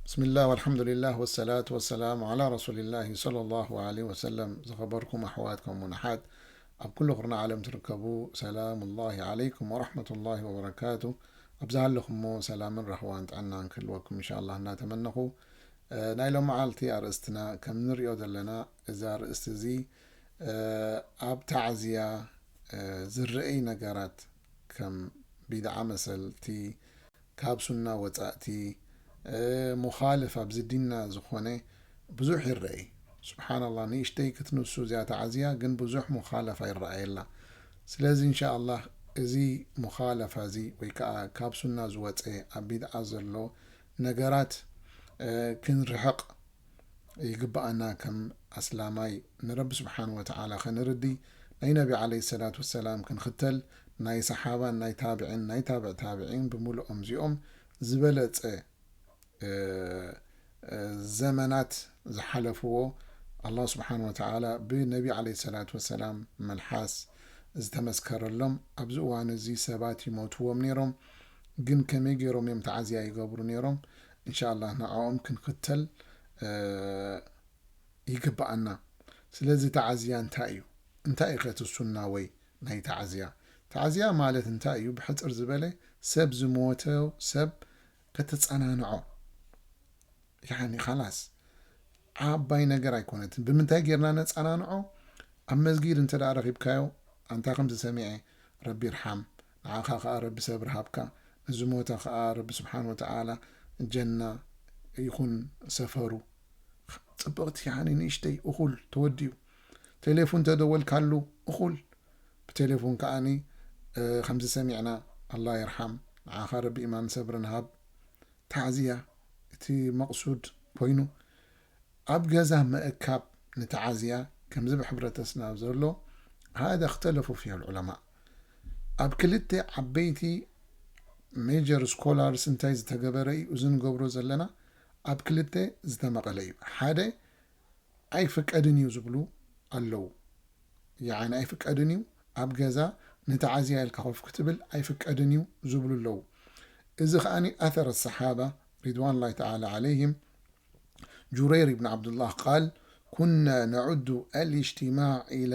ብስምላህ ወልሓምዱሊላህ ወሰላቱ ወሰላም ዓላ ረሱሊላሂ ሰለላሁ ዓለይሂ ወሰለም ዝኸበርኩም ኣሕዋት ከምኡውን ኣሓት ኣብ ኩሉ ኩርና ዓለም ትርከቡ ሰላሙላሂ ዓለይኩም ወረሕመቱላሂ ወበረካቱ ኣብ ዝሃለኹሞ ሰላምን ራህዋን ጥዕናን ክህልወኩም እንሻላ እናተመነኹ ናይ ሎም መዓልቲ ኣርእስትና ከም ንሪኦ ዘለና እዚ ኣርእስቲ እዚ ኣብ ታዕዝያ ዝረአይ ነገራት ከም ቢድዓ መሰልቲ ካብ ሱና ወጻእቲ ሙኻልፍ ኣብዚ ዲንና ዝኾነ ብዙሕ ይረኤ ሱብሓናላህ ንእሽተይ ክትንሱ እዚኣ ተዓዝያ ግን ብዙሕ ሙኻለፋ ይረኣየላ ስለዚ እንሻኣላህ እዚ ሙኻለፋ እዚ ወይ ከኣ ካብ ሱና ዝወጸ ኣብ ቢድዓ ዘሎ ነገራት ክንርሕቅ ይግብኣና ከም ኣስላማይ ንረቢ ስብሓን ወተዓላ ከንርዲ ናይ ነቢ ዓለይሂ ሰላት ወሰላም ክንኽተል ናይ ሰሓባን ናይ ታብዒን ናይ ታብዕ ታብዒን ብምሉኦም እዚኦም ዝበለፀ ዘመናት ዝሓለፍዎ ኣላህ ስብሓን ወተዓላ ብነቢ ዓለይሂ ሰላት ወሰላም መልሓስ ዝተመስከረሎም ኣብዚ እዋን እዚ ሰባት ይሞትዎም ነይሮም ግን ከመይ ገይሮም እዮም ተዓዝያ ይገብሩ ነይሮም እንሻላህ ንዕኦም ክንኽተል ይግበኣና ስለዚ ተዓዝያ እንታይ እዩ እንታይ እዩ ከ እቲ ሱና ወይ ናይ ተዓዝያ ተዓዝያ ማለት እንታይ እዩ ብሕፅር ዝበለ ሰብ ዝሞተ ሰብ ከተፀናንዖ ያኒ ኻላስ ዓባይ ነገር ኣይኮነትን ብምንታይ ጌርና ነፀናንዖ ኣብ መስጊድ እንተ ረኺብካዮ ኣንታ ከምዚ ሰሚዐ ረቢ ይርሓም ንዓኻ ከኣ ረቢ ሰብሪ ሃብካ ንዝሞተ ከኣ ረቢ ስብሓን ወተዓላ ጀና ይኹን ሰፈሩ። ጽብቅቲ ያኒ ንእሽተይ እኹል ተወዲኡ ቴሌፉን ተደወልካሉ እኹል ብቴሌፉን ከኣ ከምዚ ሰሚዕና ኣላ ይርሓም ንዓኻ ረቢ ኢማን ሰብርን ሃብ ታዕዝያ እቲ መቅሱድ ኮይኑ ኣብ ገዛ ምእካብ ንታዓዝያ ከምዚ ብሕብረተስና ዘሎ ሃዳ እክተለፉ ፊሀ ልዑለማእ። ኣብ ክልተ ዓበይቲ ሜጀር ስኮላርስ እንታይ ዝተገበረ እዩ እዚ ንገብሮ ዘለና ኣብ ክልተ ዝተመቐለ እዩ ሓደ ኣይፍቀድን እዩ ዝብሉ ኣለው ይዓኒ ኣይፍቀድን እዩ ኣብ ገዛ ንተዓዝያ ኢልካ ኮፍ ክትብል ኣይፍቀድን እዩ ዝብሉ ኣለው እዚ ከዓኒ ኣተረ ሰሓባ ሪድዋን ላይ ተዓላ ዓለይህም ጁረይር ብን ዓብዱላህ ቃል ኩና ነዑዱ ኣልእጅትማዕ ኢላ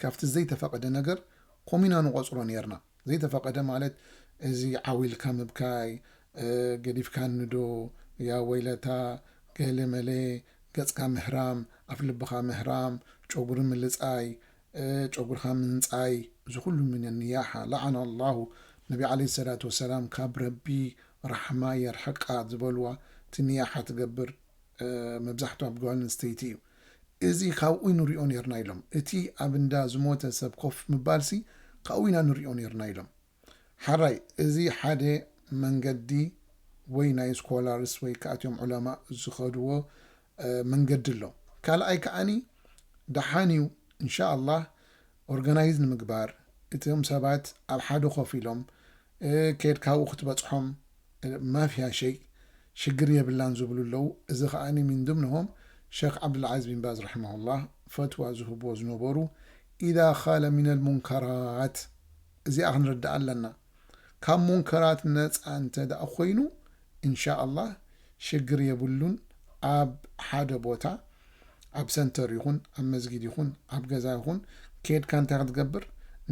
ካብቲ ዘይተፈቐደ ነገር ከምኡ ኢና ንቖጽሮ ኔርና። ዘይተፈቐደ ማለት እዚ ዓው ኢልካ ምብካይ፣ ገዲፍካ ንዶ፣ ያ ወይለታ፣ ገለ መለ፣ ገጽካ ምህራም፣ ኣፍልብኻ ምህራም፣ ጨጉሪ ምልጻይ፣ ጨጉርኻ ምንጻይ፣ እዚ ኩሉ ሚነ ኒያሓ፣ ለዓነ ኣላሁ ነቢ ዓለይሂ ሰላቱ ወሰላም ካብ ረቢ ራሕማ የርሕቃ ዝበልዋ እቲ ኒያሓ ትገብር መብዛሕትኡ ኣብ ጓል ኣንስተይቲ እዩ። እዚ ካብኡ ንሪኦ ኔርና ኢሎም። እቲ ኣብ እንዳ ዝሞተ ሰብ ኮፍ ምባልሲ ካብኡ ኢና ንሪኦ ኔርና ኢሎም። ሐራይ እዚ ሓደ መንገዲ ወይ ናይ ስኮላርስ ወይ ከኣ እቲኦም ዑለማእ ዝኸድዎ መንገዲ ኣሎ። ካልኣይ ከኣ ደሓን እዩ እንሻ ኣላህ ኦርጋናይዝ ንምግባር እቶም ሰባት ኣብ ሓደ ኮፍ ኢሎም ኬድካ ኣብኡ ክትበጽሖም ማፍያ ሸይ ሽግር የብላን ዝብሉ ኣለዉ እዚ ከኣ ሚን ድምንሆም ሸኽ ዓብዱልዓዝ ቢንባዝ ራሕማሁላህ ፈትዋ ዝህብዎ ዝነበሩ ኢዛ ኻለ ሚነል ሙንከራት እዚኣ ክንርዳኣ ኣለና። ካብ ሙንከራት ነጻ እንተድኣ ኮይኑ እንሻኣላህ ሽግር የብሉን ኣብ ሓደ ቦታ ኣብ ሰንተር ይኹን ኣብ መስጊድ ይኹን ኣብ ገዛ ይኹን ኬድካ እንታይ ክትገብር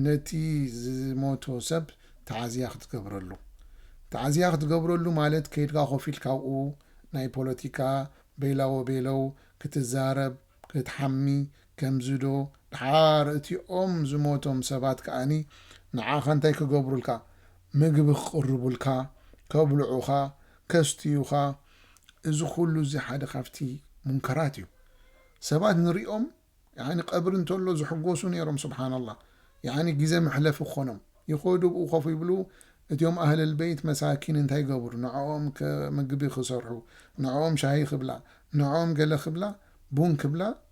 ነቲ ዝሞቶ ሰብ ተዓዝያ ክትገብረሉ ተዓዝያ ክትገብረሉ ማለት ከይድካ ኮፍ ኢልካ ኣብኡ ናይ ፖለቲካ በይላወበይለው ክትዛረብ ክትሓሚ ከምዚዶ ድሓር እቲኦም ዝሞቶም ሰባት ከኣኒ ንዓኻ እንታይ ክገብሩልካ ምግቢ ክቅርቡልካ ከብልዑኻ ከስትዩኻ እዚ ኩሉ እዚ ሓደ ካብቲ ሙንከራት እዩ ሰባት ንሪኦም ያኒ ቀብሪ እንተሎ ዝሕጎሱ ኔሮም ሱብሓነላህ ያኒ ግዜ መሕለፊ ክኾኖም ይኸዱ ኣብኡ ኮፍ ይብሉ እቲኦም ኣህለልበይት መሳኪን እንታይ ይገብሩ ንዕኦም ምግቢ ክሰርሑ ንዕኦም ሻሂ ክብላ ንዕኦም ገለ ክብላ ቡን ክብላ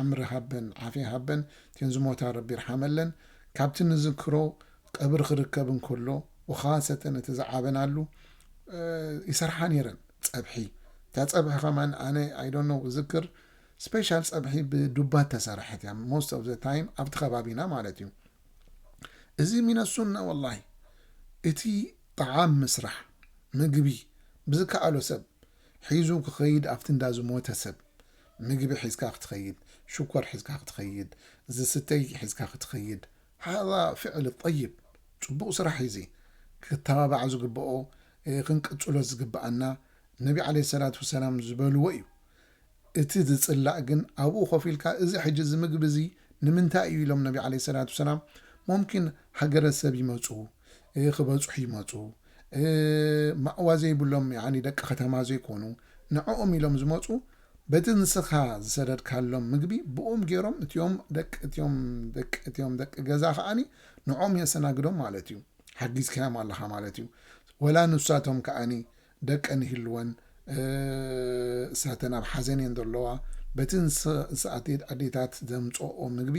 ዕምሪ ሃበን ዓፊያ ሃበን እተን ዝሞታ ረቢ ይርሓመለን ካብቲ ንዝክሮ ቀብሪ ክርከብ እንከሎ ወኻሰተን እቲ ዝዓበናሉ ይሰርሓ ነይረን ጸብሒ እታ ጸብሒ ከማን ኣነ ኣይዶኖ ዝክር ስፔሻል ጸብሒ ብዱባ ተሰራሐት እያ ሞስት ኦፍ ዘ ታይም ኣብቲ ከባቢና ማለት እዩ እዚ ሚነሱና ወላሂ እቲ ጣዓም ምስራሕ ምግቢ ብዝከኣሎ ሰብ ሒዙ ክኸይድ ኣብቲ እንዳ ዝሞተ ሰብ ምግቢ ሒዝካ ክትኸይድ ሽኮር ሒዝካ ክትኸይድ ዝስተይ ሒዝካ ክትኸይድ ሃዛ ፍዕል ጠይብ ጽቡቅ ስራሕ ኢዚ ክተባባዕ ዝግብኦ ክንቅጽሎ ዝግብኣና ነቢ ዓለይሂ ሰላት ወሰላም ዝበልዎ ኢዩ እቲ ዝጽላእ ግን ኣብኡ ኮፍ ኢልካ እዚ ሕጂ እዚ ምግቢ እዚ ንምንታይ ኢዩ ኢሎም ነቢ ዓለይሂ ሰላት ወሰላም ሞምኪን ሃገረሰብ ይመጹ ክበጽሑ ይመጹ ማእዋ ዘይብሎም ያኒ ደቂ ከተማ ዘይኮኑ ንዕኦም ኢሎም ዝመጹ በቲ ንስኻ ዝሰደድካሎም ምግቢ ብኡም ጌሮም እትዮም ደቂ እትዮም ደቂ እትዮም ደቂ ገዛ ከኣኒ ንዕኦም የሰናግዶም ማለት እዩ ሓጊዝካዮም ኣለኻ ማለት እዩ ወላ ንሳቶም ከኣኒ ደቀን ይህልወን እሳተን ኣብ ሓዘን እየን ዘለዋ በቲ ንስኣቴት ኣዴታት ዘምጽኦ ምግቢ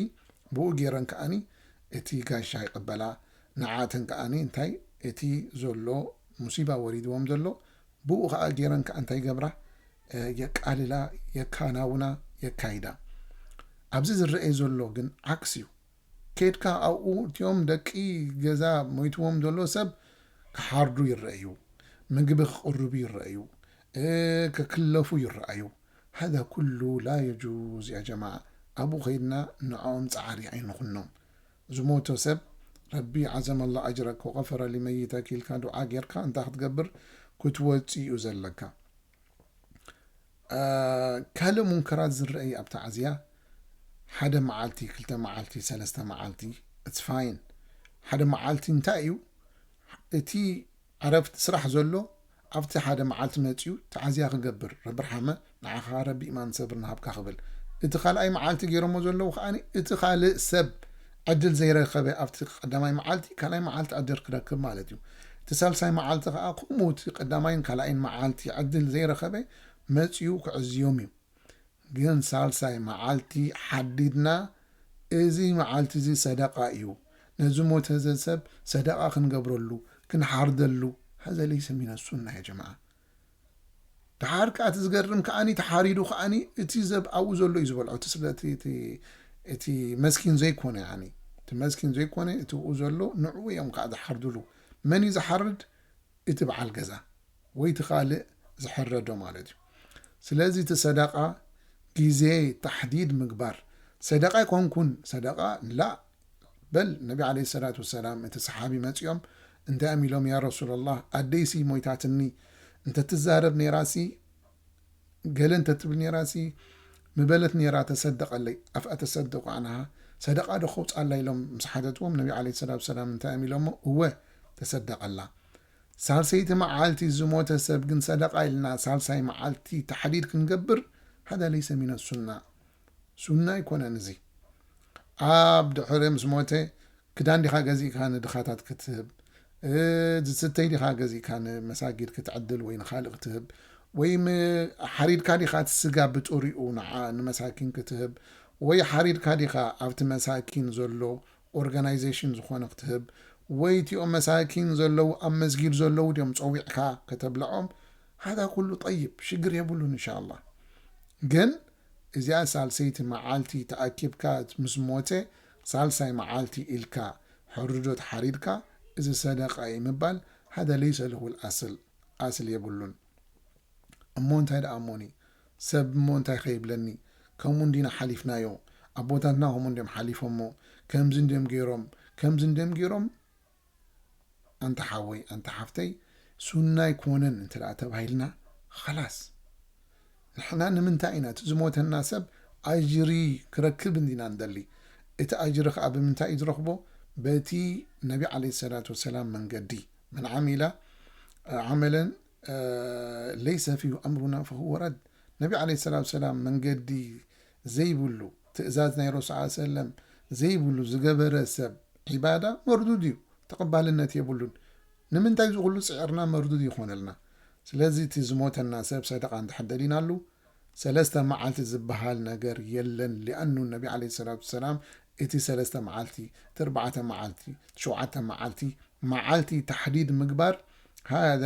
ብኡ ጌረን ከኣኒ እቲ ጋሻ ይቕበላ ንዓኣተን ከኣ እንታይ እቲ ዘሎ ሙሲባ ወሪድዎም ዘሎ ብኡ ከኣ ጌረን ከኣ እንታይ ይገብራ የቃልላ የካናውና የካይዳ ኣብዚ ዝረኤ ዘሎ ግን ዓክስ እዩ ኬድካ ኣብኡ እቲኦም ደቂ ገዛ ሞይትዎም ዘሎ ሰብ ክሓርዱ ይረኣዩ ምግቢ ክቅርቡ ይረኣዩ ክክለፉ ይረኣዩ هذا ኩሉ ላየጁዝ ያጀማዓ ኣብኡ ከይድና ንዕኦም ጸዓሪ ኣይንኹኖም ዝሞተ ሰብ ረቢ ዓዘመ ኣላ ኣጅረክ ወቀፈረ ሊመይተክ ኢልካ ዱዓ ጌርካ እንታይ ክትገብር ክትወጽእ እዩ ዘለካ ካልእ ሙንከራት ዝረአ እዩ ኣብ ተዓዝያ ሓደ መዓልቲ ክልተ መዓልቲ ሰለስተ መዓልቲ ኢትስ ፋይን ሓደ መዓልቲ እንታይ እዩ እቲ ዕረፍቲ ስራሕ ዘሎ ኣብቲ ሓደ መዓልቲ መጺኡ ተዓዝያ ክገብር ረብርሓመ ንዓኻ ረቢ ኢማን ሰብርን ሃብካ ክብል እቲ ካልኣይ መዓልቲ ጌሮሞ ዘለዉ ከኣ እቲ ካልእ ሰብ ዕድል ዘይረከበ ኣብቲ ቀዳማይ መዓልቲ ካልኣይ መዓልቲ ዕድር ክረክብ ማለት እዩ እቲ ሳልሳይ መዓልቲ ከኣ ከምኡ እቲ ቀዳማይን ካልኣይን መዓልቲ ዕድል ዘይረከበ መጺኡ ክዕዝዮም እዩ ግን ሳልሳይ መዓልቲ ሓዲድና እዚ መዓልቲ'ዚ ሰደቓ እዩ፣ ነዚ ሞተዘ ሰብ ሰደቓ ክንገብረሉ፣ ክንሓርደሉ፣ ሀዘ ለይሰ ሚነ ሱና ያ ጀማዓ። ደሓር ከኣ እቲ ዝገርም ከኣ ተሓሪዱ ከኣ እቲ ዘብ ኣብኡ ዘሎ እዩ ዝበልዖ እቲ ስለ እቲ መስኪን ዘይኮነ እቲ መስኪን ዘይኮነ እቲ ኣብኡ ዘሎ ንዕኡ እዮም ከኣ ዝሓርድሉ መን እዩ ዝሓርድ እቲ በዓል ገዛ ወይ እቲ ካልእ ዝሕረዶ ማለት እዩ ስለዚ እቲ ሰደቃ ግዜ ታሕዲድ ምግባር ሰደቃ ኣይኮንኩን ሰደቃ ላእ በል ነቢ ዓለይሂ ሰላቱ ወሰላም እቲ ሰሓቢ መጺኦም እንታይ እዮም ኢሎም ያ ረሱለላህ ኣደይሲ ሞይታትኒ እንተትዛረብ ኔራሲ ገለ እንተ ትብል ኔራሲ ምበለት ኔራ ተሰደቀለይ ኣፍኣ ተሰድቁ ኣንሃ ሰደቃ ዶ ከውጻላ ኢሎም ምስ ሓተትዎም ነቢ ዓለይሂ ሰላቱ ሰላም እንታይ እዮም ኢሎሞ እወ ተሰደቀላ ሳልሰይቲ መዓልቲ ዝሞተ ሰብ ግን ሰደቃ ኢልና ሳልሳይ መዓልቲ ተሕዲድ ክንገብር ሃዳ ለይሰ ሚነ ሱና ሱና ኣይኮነን እዚ ኣብ ድሕሪ ምስ ሞተ ክዳን ዲኻ ገዚእካ ንድኻታት ክትህብ? ዝስተይ ዲኻ ገዚእካ ንመሳጊድ ክትዕድል ወይ ንኻልእ ክትህብ? ወይም ሓሪድካ ዲኻ እቲ ስጋ ብጥሪኡ ንዓ ንመሳኪን ክትህብ? ወይ ሓሪድካ ዲኻ ኣብቲ መሳኪን ዘሎ ኦርጋናይዜሽን ዝኾነ ክትህብ? ወይ እቲኦም መሳኪን ዘለዉ ኣብ መስጊድ ዘለዉ ድዮም ጸዊዕካ ከተብልዖም? ሃዛ ኩሉ ጠይብ ሽግር የብሉን እንሻኣላህ። ግን እዚኣ ሳልሰይቲ መዓልቲ ተኣኪብካ ምስ ሞተ ሳልሳይ መዓልቲ ኢልካ ሕርዶት ሓሪድካ እዚ ሰደቃ እዩ ምባል ሃደ ለይሰ ለሁ ኣል-ኣስል ኣስል የብሉን እሞ እንታይ ደኣ እሞኒ ሰብ እሞ እንታይ ከ ይብለኒ ከምኡ እንዲና ሓሊፍናዮ ኣቦታትና ከምኡ እንድዮም ሓሊፎሞ ከምዚ እንድዮም ገይሮም ከምዚ እንድዮም ገይሮም ኣንታ ሓወይ ኣንታ ሓፍተይ ሱና ኣይኮነን እንተ ተባሂልና ኸላስ ንሕና ንምንታይ ኢና እቲ ዝሞተና ሰብ ኣጅሪ ክረክብ እንዲና ንደሊ እቲ ኣጅሪ ኸኣ ብምንታይ እዩ ዝረኽቦ በቲ ነቢ ዓለይሂ ሰላቱ ወሰላም መንገዲ መን ዓሚላ ዓመለን ለይሰ ፊሁ ኣምሩና ፈሁወ ረድ ነቢ ዓለይሂ ሰላቱ ወሰላም መንገዲ ዘይብሉ፣ ትእዛዝ ናይ ረሱዕ ዓል ሰለም ዘይብሉ ዝገበረ ሰብ ዒባዳ መርዱድ እዩ ተቐባልነት የብሉን። ንምንታይ እዚ ኩሉ ጽዒርና መርዱድ ይኾነልና? ስለዚ እቲ ዝሞተና ሰብ ሰደቓ እንድሕር ደሊናሉ ሰለስተ መዓልቲ ዝበሃል ነገር የለን ሊኣኑ ነቢ ዓለይሂ ሰላቱ ወሰላም እቲ ሰለስተ መዓልቲ፣ እቲ ኣርባዕተ መዓልቲ፣ እቲ ሸውዓተ መዓልቲ መዓልቲ ታሕዲድ ምግባር ሃዛ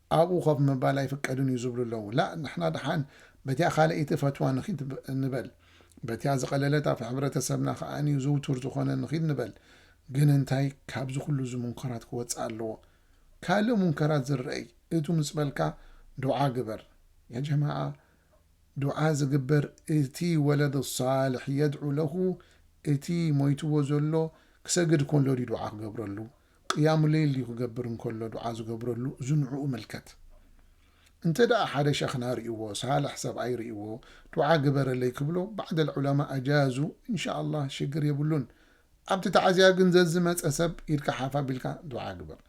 ኣብኡ ኮፍ ምባል ኣይፍቀድን እዩ ዝብሉ ኣለዉ። ላእ ንሕና ደሓን በቲኣ ካልኣይቲ ፈትዋ ንኺድ ንበል። በቲኣ ዝቐለለት ኣብ ሕብረተሰብና ከኣ ዝውቱር ዝኾነ ንኺድ ንበል። ግን እንታይ ካብዚ ኩሉ እዚ ሙንከራት ክወጽእ ኣለዎ። ካልእ ሙንከራት ዝረእይ እቱ ምስ በልካ ዱዓ ግበር። ያ ጀማዓ ዱዓ ዝግበር እቲ ወለድ ሳልሕ የድዑ ለሁ እቲ ሞይትዎ ዘሎ ክሰግድ ኮሎ ድዩ ዱዓ ክገብረሉ። ቅያሙ ለይል ድዩ ክገብር እንከሎ ዱዓ ዝገብረሉ እዚ ንዑኡ መልከት እንተ ደኣ ሓደ ሸኽና ሪእዎ ሳልሕ ሰብኣይ ሪእዎ ዱዓ ግበረለይ ክብሎ ባዕደል ዑለማ ኣጃዙ እንሻኣላህ ሽግር የብሉን ኣብቲ ታዕዝያ ግን ዘዝመጸ ሰብ ኢድካ ሓፍ ኣቢልካ ዱዓ ግበር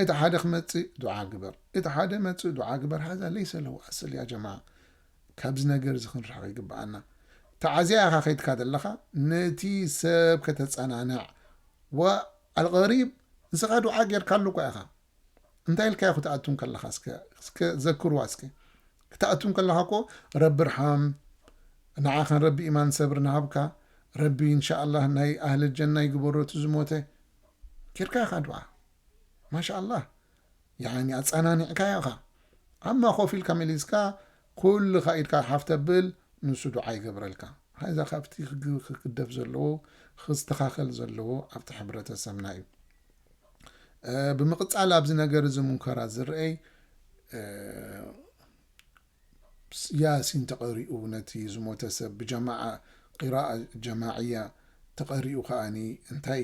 እቲ ሓደ ክመጽእ ዱዓ ግበር እቲ ሓደ መጽእ ዱዓ ግበር ሃዛ ለይሰ ለሁ ኣስል ያ ጀማዓ ካብዚ ነገር እዚ ክንርሕቕ ይግበኣና ታዕዝያ ኢኻ ከይድካ ዘለኻ ነቲ ሰብ ከተጸናንዕ ወ ኣልቐሪብ ንስኻ ዱዓ ጌርካሉ እኳ ኢኻ እንታይ ኢልካዮ ክትኣቱ እንከለኻ እስከ ዘክርዋ እስከ ክትኣቱ እንከለኻ እኮ ረቢ ርሓም ንዓኻን ረቢ ኢማን ሰብሪ ንሃብካ ረቢ እንሻኣላህ ናይ ኣህሊ ጀና ይግበሮ እቲ ዝሞተ ጌርካ ኢኻ ዱዓ ማሻኣላህ ያኒ ኣጸናኒዕካዮ ኢኻ ኣማ ኮፍ ኢልካ መሊስካ ኩልኻ ኢድካ ሓፍ ተብል ንሱ ዱዓ ይገብረልካ ሃይ እዛ ካብቲ ክግደፍ ዘለዎ ክስተኻኸል ዘለዎ ኣብቲ ሕብረተሰብና እዩ ብምቕጻል ኣብዚ ነገር እዚ ሙንከራት ዝረኤይ ያሲን ተቐሪኡ ነቲ ዝሞተ ሰብ ብጀማዓ ቂራኣ ጀማዕያ ተቐሪኡ ከኣኒ እንታይ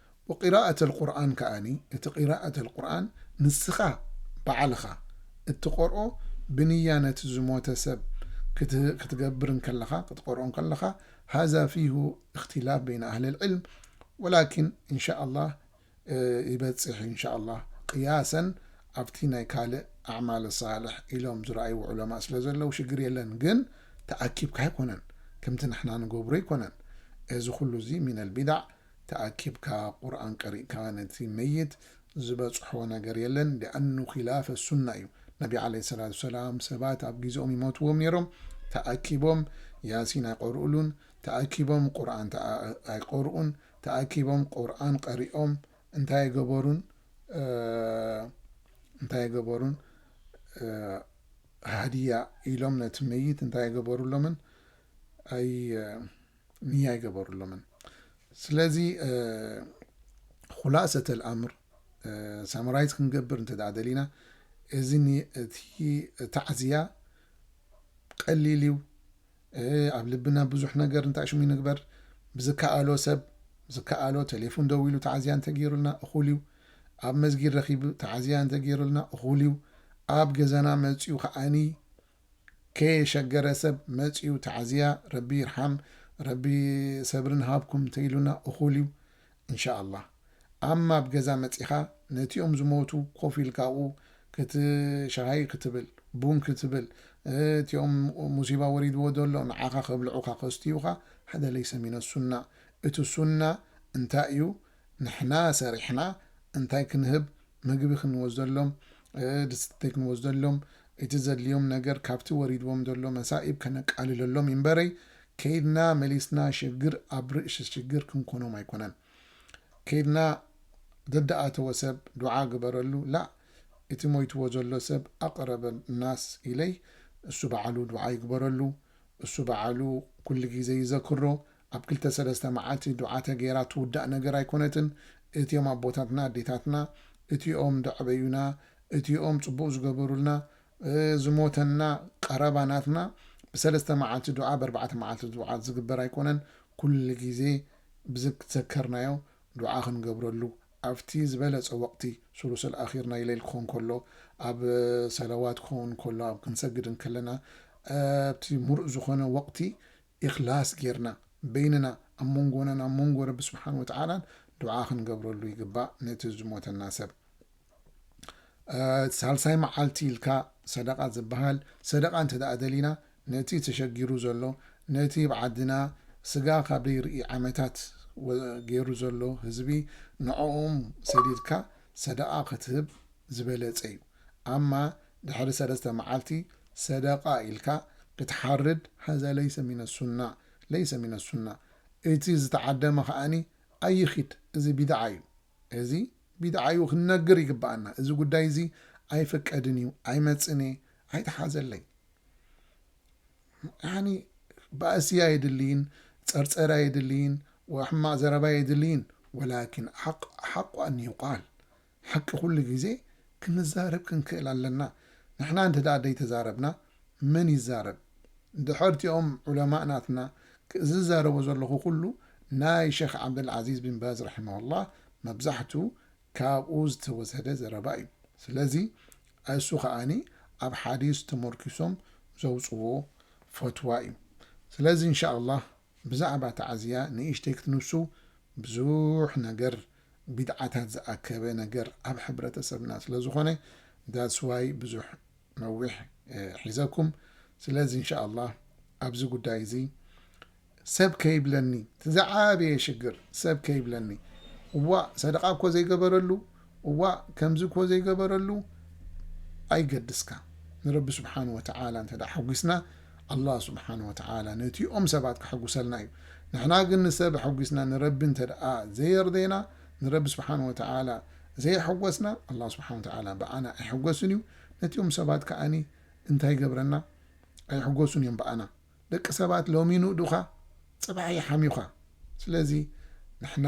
ወቂራኣት ኣልቁርኣን ከኣ እቲ ቂራኣት ኣልቁርኣን ንስኻ ባዕልኻ እትቀርኦ ብንያ ነቲ ዝሞተ ሰብ ክትገብር እንከለኻ ክትቀርኦ እንከለኻ ሃዛ ፊሁ እኽትላፍ በይነ ኣህሊ ልዕልም ወላኪን እንሻኣላህ ይበጽሕ እንሻኣላህ ቅያሰን ኣብቲ ናይ ካልእ ኣዕማል ሳልሕ ኢሎም ዝረኣይዎ ዑለማእ ስለ ዘለው ሽግር የለን ግን ተኣኪብካ ኣይኮነን ከምቲ ንሕና ንገብሮ ኣይኮነን እዚ ኩሉ እዚ ሚነል ቢዳዕ ተኣኪብካ ቁርኣን ቀሪእካ ነቲ መይት ዝበጽሖ ነገር የለን ሊኣኑ ኺላፈ ሱና እዩ ነቢ ዓለይሂ ሰላቱ ወሰላም ሰባት ኣብ ጊዘኦም ይሞትዎም ኔሮም ተኣኪቦም ያሲን ኣይቀርኡሉን ተኣኪቦም ቁርኣን ኣይቀርኡን ተኣኪቦም ቁርኣን ቀሪኦም እንታይ ኣይገበሩን እንታይ ኣይገበሩን ሃድያ ኢሎም ነቲ መይት እንታይ ኣይገበሩሎምን ኣይ ንያ ኣይገበሩሎምን ስለዚ ኹላሰተ ኣልኣምር ሳምራይዝ ክንገብር እንተ ደሊና እዚ እቲ ታዕዝያ ቀሊል እዩ ኣብ ልብና ብዙሕ ነገር እንታይ ሽሙ ይንግበር ብዝከኣሎ ሰብ ዝከኣሎ ቴሌፎን ደው ኢሉ ተዓዝያ እንተገይሩልና እኹል እዩ ኣብ መስጊድ ረኺቡ ተዓዝያ እንተገይሩልና እኹል እዩ ኣብ ገዛና መፅኡ ከዓኒ ከየ ሸገረ ሰብ መጽዩ ተዓዝያ ረቢ ይርሓም ረቢ ሰብሪ ንሃብኩም ተኢሉና እኩል እዩ እንሻኣላህ ኣማ ኣብ ገዛ መጺካ ነቲኦም ዝሞቱ ኮፍ ኢልካ ኣብኡ ክት ሻሂ ክትብል ቡን ክትብል እቲኦም ሙሲባ ወሪድዎ ደሎ ንዓካ ከብልዑካ ከስትዩካ ሓደ ለይሰ ሚነ ሱና እቲ ሱና እንታይ እዩ ንሕና ሰሪሕና እንታይ ክንህብ ምግቢ ክንወስደሎም ድስትተይ ክንወስደሎም እቲ ዘድልዮም ነገር ካብቲ ወሪድዎም ዘሎ መሳኢብ ከነቃልለሎም ኢምበረይ ከይድና መሊስና ሽግር ኣብ ርእሺ ሽግር ክንኮኖም ኣይኮነን ከይድና ደደኣተወ ሰብ ዱዓ ግበረሉ ላእ እቲ ሞይትዎ ዘሎ ሰብ ኣቅረበ ናስ ኢለይ እሱ ባዓሉ ዱዓ ይግበረሉ እሱ ባዓሉ ኩሉ ግዜ ይዘክሮ ኣብ ክልተ ሰለስተ መዓልቲ ዱዓተ ገይራ ትውዳእ ነገር ኣይኮነትን እቲኦም ኣቦታትና ኣዴታትና እቲኦም ደዕበዩና እቲኦም ጽቡቅ ዝገበሩልና ዝሞተና ቀረባ ናትና ብሰለስተ መዓልቲ ዱዓ በርባዕተ መዓልቲ ዱዓ ዝግበር ኣይኮነን ኩሉ ግዜ ብዝዘከርናዮ ዱዓ ክንገብረሉ ኣብቲ ዝበለጸ ወቅቲ ሱሉሰል ኣኺር ናይ ለይል ክኾን ከሎ ኣብ ሰለዋት ክኾን ከሎ ኣብ ክንሰግድ እንከለና ኣብቲ ሙሩእ ዝኾነ ወቅቲ ኢኽላስ ጌርና በይንና ኣብ ሞንጎናን ኣብ ሞንጎ ረቢ ስብሓን ወተዓላን ዱዓ ክንገብረሉ ይግባእ ነቲ ዝሞተና ሰብ ሳልሳይ መዓልቲ ኢልካ ሰደቃ ዝበሃል ሰደቃ እንተ ደሊና ነቲ ተሸጊሩ ዘሎ ነቲ ብ ዓድና ስጋ ካብ ደይርኢ ዓመታት ገይሩ ዘሎ ህዝቢ ንዕኦም ሰዲድካ ሰደቃ ክትህብ ዝበለጸ እዩ ኣማ ድሕሪ ሰለስተ መዓልቲ ሰደቃ ኢልካ ክትሓርድ ሃዛ ለይሰ ሚነ ሱና ለይሰ ሚነ ሱና እቲ ዝተዓደመ ከኣኒ ኣይኺድ እዚ ቢድዓ እዩ እዚ ቢድዓ እዩ ክንነግር ይግበኣና እዚ ጉዳይ እዚ ኣይፍቀድን እዩ ኣይመጽን እየ ኣይትሓዘለይ ያኒ ባእሲ ኣየድልይን ጸርጸር ኣየድልይን ሕማቅ ዘረባ ኣየድልይን ወላኪን ሓቅ ሓቁ ኣን ይቃል ሓቂ ኩሉ ግዜ ክንዛረብ ክንክእል ኣለና ንሕና እንተ ደይተዛረብና መን ይዛረብ ድሐር እቲኦም ዑለማእ ናትና ዝዛረቦ ዘለኩ ኩሉ ናይ ሸኽ ዓብደል ዓዚዝ ቢን ባዝ ራሒመሁላህ መብዛሕቱ ካብኡ ዝተወሰደ ዘረባ እዩ ስለዚ እሱ ከኣኒ ኣብ ሓዲስ ተሞርኪሶም ዘውጽዎ ፈትዋ እዩ ስለዚ እንሻላህ ብዛዕባ ተዓዝያ ንእሽተይ ክትንሱ ብዙሕ ነገር ቢድዓታት ዝኣከበ ነገር ኣብ ሕብረተሰብና ስለዝኾነ that's why ብዙሕ ነዊሕ ሒዘኩም ስለዚ እንሻኣላህ ኣብዚ ጉዳይ እዚ ሰብ ከይብለኒ እቲ ዝዓበየ ሽግር ሰብ ከይብለኒ እዋእ ሰደቓ እኮ ዘይገበረሉ እዋእ ከምዚ እኮ ዘይገበረሉ ኣይገድስካ ንረቢ ስብሓን ወተዓላ እንተ ሓጒስና ኣላህ ሱብሓነሁ ወተዓላ ነቲኦም ሰባት ከሐጉሰልና እዩ። ንሕና ግን ንሰብ ኣሐጒስና ንረቢ እንተድኣ ዘየርደና፣ ንረቢ ሱብሓነሁ ወተዓላ ዘየሐጐስና፣ ኣላህ ሱብሓነሁ ወተዓላ ብኣና ኣይሕጐስን እዩ። ነቲኦም ሰባት ከኣ እንታይ ይገብረና? ኣይሕጐሱን እዮም ብኣና። ደቂ ሰባት ሎሚ ይንእዱኻ ጽባሕ ይሓምዩኻ። ስለዚ ንሕና